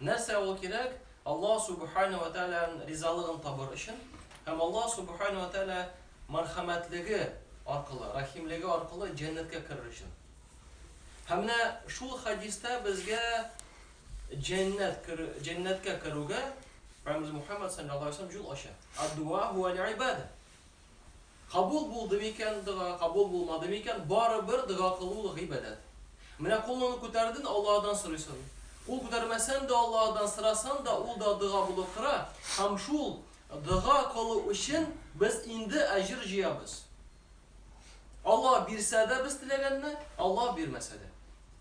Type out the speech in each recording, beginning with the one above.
Нәрсә ул кирәк? Аллаһ Сүбхәнәһү вә Тәгаләнең ризалыгын табыр өчен һәм Аллаһ Сүбхәнәһү вә Тәгалә мәрхәмәтлеге аркылы, рәхимлеге аркылы җәннәткә керер өчен. Һәм менә шул хәдистә безгә җәннәт керү, җәннәткә керүгә Пәйгамбәребез Мухәммәд саллаллаһу алейһи ва сәлләм юл ача. Ад-дуа һүәл-ибада. Кабул булды микән дога, кабул булмады микән, барыбер дога кылу ул гыйбадәт. Менә кулыңны күтәрден, Аллаһыдан сорыйсын. Кул күтәрмәсән дә Аллаһыдан сорасын да, ул да дога булып тора, һәм шул дога кылу өчен без инде әҗер җыябыз. Аллаһ бирсә дә без теләгәнне, Аллаһ бирмәсә дә.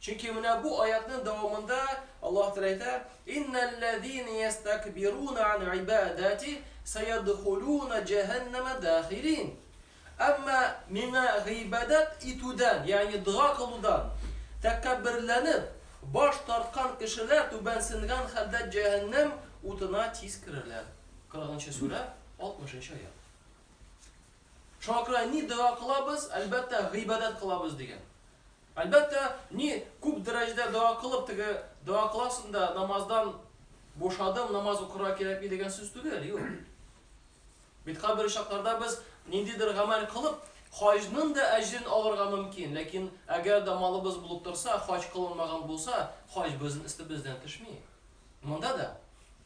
Чөнки менә бу аятьнең дәвамында Аллаһ Тәгалә әйтә, Иннәлләзина йәстәкбируна ан ибадәти сәядхулуна җәһәннәмә дәхирин. Әмма Миңа гыйбадәт итүдән, ягъни дога кылудан тәкәбберләнеп, баш тарткан кешеләр түбәнсенгән хәлдә җәһәннәм утына тиз керерләр. Кырыгынчы сүрә, алтмышынчы аять. Шуңа күрә ни дога кылабыз, әлбәттә, гыйбадәт кылабыз, дигән. Әлбәттә, ни күп дәрәҗәдә дога кылып, теге дога кыласың да, намаздан бушадым, намаз укырга кирәкми дигән сүз түгел, юк. Бит кайбер очракларда без ниндидер гамәл кылып, хаҗның да әҗерен алырга мөмкин, ләкин әгәр дә малыбыз булып торса, хаҗ кылынмаган булса, хаҗ безнең өстебездән төшми. Монда да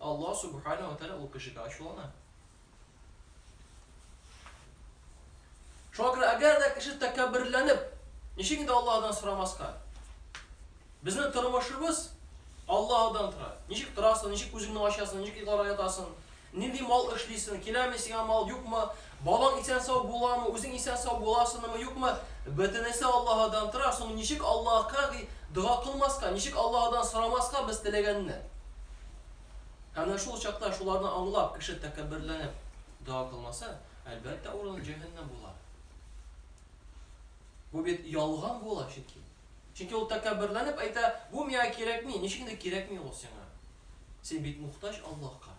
Аллаһ Сүбхәнәһү ва Тәгалә ул кешегә ачулана. Шуңа күрә, әгәр дә кеше тәкәбберләнеп, ничек инде Аллаһыдан сорамаска? Безнең тормышыбыз Аллаһыдан тора. Ничек торасың, ничек күзеңне ачасың, ничек йокларга ятасың, нинди мал эшлисең, киләме сиңа мал, юкмы, Балаң исән-сау буламы, үзең исән-сау буласынымы, юкмы, бөтенесе Аллаһыдан тора, шуны ничек Аллаһка ги дога кылмаска, ничек Аллаһыдан сорамаска без теләгәнне? Һәм менә шул чакта шуларны аңлап, кеше тәкәбберләнеп дога кылмаса, әлбәттә, урыны җәһәннәм була. Бу бит ялган була чөнки. Чөнки ул тәкәбберләнеп әйтә, Бу миңа кирәкми, ничек инде кирәкми ул сиңа? Син бит мухтаҗ Аллаһка.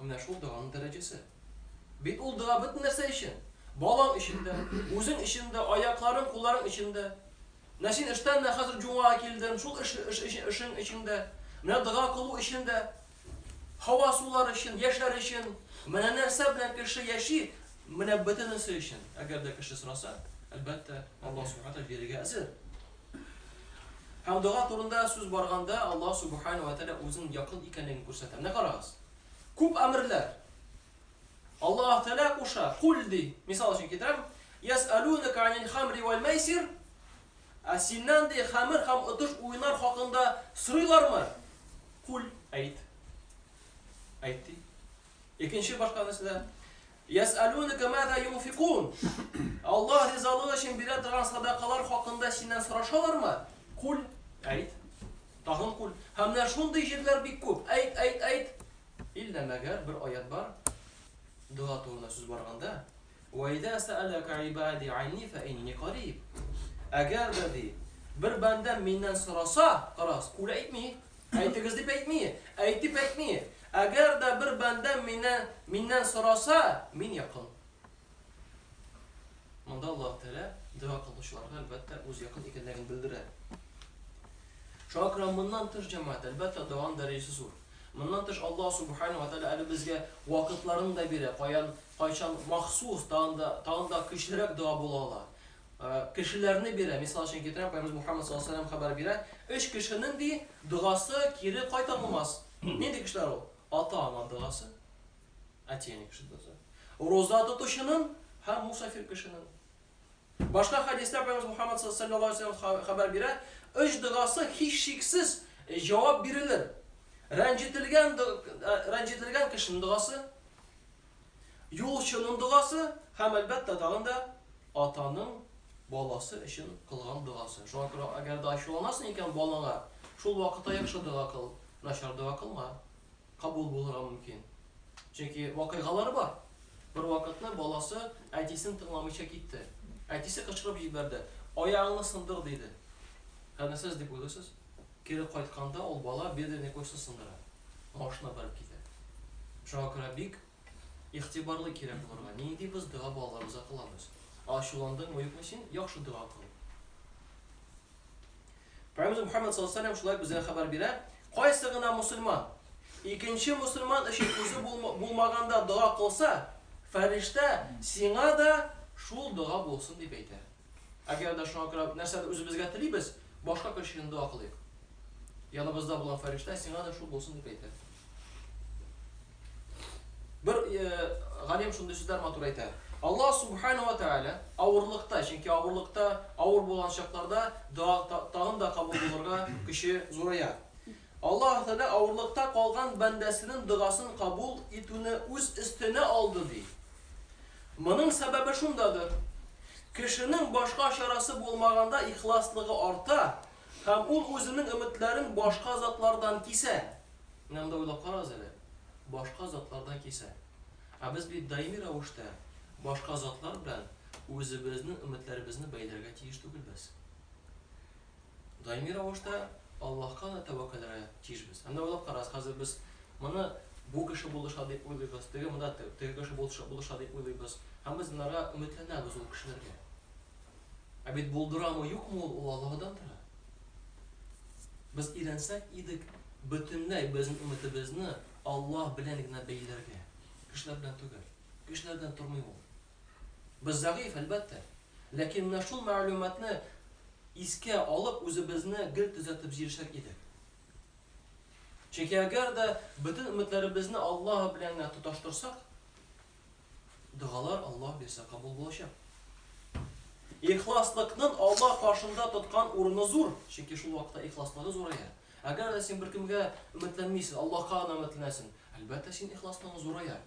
Менә шул доганың дәрәҗәсе. Бит ул дога бөтен нәрсә өчен. Балаң өчен дә, үзең өчен дә, аякларың, кулларың өчен дә. Менә син эштән менә хәзер җумага килдең, шул эш, эш, эш, эшең өчен дә, менә дога кылу өчен дә, һава сулар өчен, яшьләр өчен, менә нәрсә белән кеше яши, менә бөтенесе өчен. Әгәр дә кеше сораса, әлбәттә, Аллаһ Субхана бирергә әзер. Һәм дога турында сүз барганда, Аллаһ Субхана вә Тәгалә үзенең якын икәнлеген күрсәтә. Менә карагыз. Күп әмерләр. Аллаһ Тәгалә куша, кул ди. Мисал өчен китерәм. Яс'алунәка анил хамри вал майсир. Ә синнән ди хамер һәм отыш уеннар хакында сорыйлармы? Кул әйт. Әйт ди. Икенче башка нәрсәдә Йәсәлүнәкә маза юнфикун? Аллаһ ризалыгы өчен бирә торган садакалар хакында синнән сорашалармы? Куль, әйт. Тагын куль. Һәм менә шундый җирләр бик күп. Әйт, әйт, әйт. Илла мәгәр бер аять бар. Дога турында сүз барганда, Вә иза сәәләкә ибади анни фә инни кариб. Әгәр дә ди, бер бәндәм миннән сораса, карагыз, куль әйтми, Әйтегез дип әйтми, әйт дип әйтми. Әгәр дә бер бәндәм мине, миннән сораса, мин якын. Монда Аллаһ Тәгалә дога кылучыларга, әлбәттә, үз якын икәнлеген белдерә. Шуңа күрә моннан тыш җәмәгать, әлбәттә, доганың дәрәҗәсе зур. Моннан тыш Аллаһ Субхана ва Тәгалә әле безгә вакытларын да бирә, каян, кайчан махсус, тагын да, тагын да көчлерәк дога була ала. Кешеләрне бирә. Мисал өчен китерәм, Пәйгамбәребез Мухаммәд саллаллаһу галәйһи ва сәлләм хәбәр бирә, Өч кешенең, ди, догасы кире кайтарылмас. Нинди кешеләр ул? Ата-ана догасы, әти-әни кеше догасы, роза тотучының һәм мусафир кешенең. Башка хәдистә Пәйгамбәребез Мухаммәд саллаллаһу галәйһи ва сәлләм хәбәр бирә, Өч догасы һичшиксез җавап бирелер. Рәнҗетелгән, рәнҗетелгән кешенең догасы. юлчының догасы һәм, әлбәттә, тагын да атаның баласы өчен кылган догасы. Шуңа күрә, әгәр дә ачуланасың икән балаңа, шул вакытта яхшы дога кыл, начар дога кылма. Кабул булырга мөмкин. Чөнки вакыйгалар бар. Бер вакытны баласы әтисен тыңламыйча китте. Әтисе кычкырып җибәрде, аягыңны сындыр, диде. Хәнәсез дип уйлыйсыз? Кире кайтканда ул бала бедренный костьны сындыра, машина барып китә. Шуңа күрә бик игътибарлы кирәк булырга, нинди без дога балаларыбызга кылабыз. Ачуландыңмы, юкмы син, яхшы дога кыл. Пәйгамбәребез Мөхәммәд саллаллаһу алейһи ва сәлләм шулай безгә хәбәр бирә, кайсы гына мусульман икенче мусульман өчен үзе булмаганда дога кылса, фәрештә, сиңа да шул дога булсын, дип әйтә. Әгәр дә шуңа күрә нәрсәдер үзебезгә телибез, башка кеше өчен дога кылыйк. Яныбызда булган фәрештә сиңа да шул булсын дип әйтә. Бер э, галим шундый сүзләр матур әйтә. Аллаһ субхана ва тааля авырлыкта, чөнки авырлыкта, авыр булган чакларда дога тагын да кабул булырга көче зурая. Аллаһы Тәгалә авырлыкта калган бәндәсенең догасын кабул итүне үз өстенә алды, ди. Моның сәбәбе шундадыр, кешенең башка чарасы булмаганда ихласлыгы арта һәм ул үзенең өметләрен башка затлардан кисә. Менә монда уйлап карагыз әле, башка затлардан кисә. Ә без бит даими рәвештә башка затлар белән үзебезнең өметләребезне бәйләргә тиеш түгелбез. Даими рәвештә Аллаһка гына тәвәккәлләргә тиешбез. Һәм дә уйлап карагыз, хәзер без моны бу кеше булыша дип уйлыйбыз, теге монда теге кеше булыша дип уйлыйбыз. Һәм без монарга өметләнәбез ул кешеләргә. Ә бит булдырамы, юкмы ул, ул Аллаһыдан тора. Без өйрәнсәк идек бөтенләй безнең өметебезне Аллаһ белән генә бәйләргә, кешеләр белән түгел. Кешеләр белән тормый ул. Без зәгыйфь, әлбәттә. Ләкин менә шул мәгълүматны искә алып, үзебезне гел төзәтеп җирешер идек. Чөнки әгәр дә бөтен өметләребезне Аллаһ белән генә тоташтырсак, догалар Аллаһ бирсә кабул булачак. Ихласлыкның Аллаһ каршында тоткан урыны зур, чөнки шул вакытта ихласлыгы зурая. Әгәр дә син беркемгә өметләнмисең, Аллаһка гына өметләнәсең, әлбәттә син ихласлыгың зурая.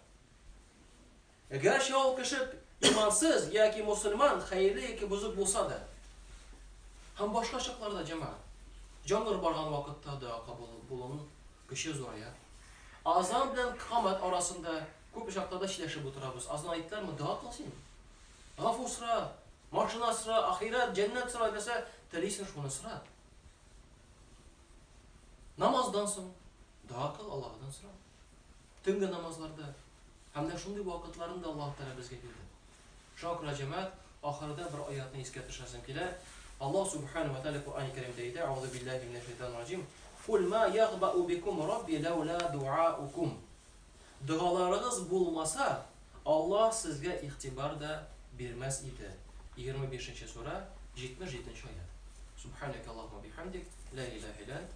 Гәрчә ул кеше имансыз яки мосылман, хәерле яки бозык булса да. Һәм башка чакларда, җәмәгать. Җангыр барган вакытта дога кабул булуның көче зурая. Азан белән камәт арасында күп очракларда сөйләшеп утырабыз. Азан әйттеләрме, дога кыл син. Гафу сора, машина сора, ахирәт, җәннәт сора, нәрсә телисең, шуны сора. Намаздан соң дога кыл, Аллаһыдан сора. Төнге намазларда һәм дә шундый вакытларында Аллаһ Тәгалә безгә бирде. Шуңа күрә, җәмәгать, ахырда бер аятьне искә төшерәсем килә. Аллаһ Сүбхәнәһү вә Тәгалә Коръәни Кәримдә әйтә, Әгъүзү биллаһи минә шәйтанир раҗим, Куль мә ягъбәу бикум Рабби ләүлә дуаукум. Догаларыгыз булмаса, Аллаһ сезгә игътибар да бирмәс иде. Егерме бишенче сүрә, җитмеш җиденче аять. Сүбхәнәкә Аллаһуммә бихәмдик, лә илаһә илә әнт,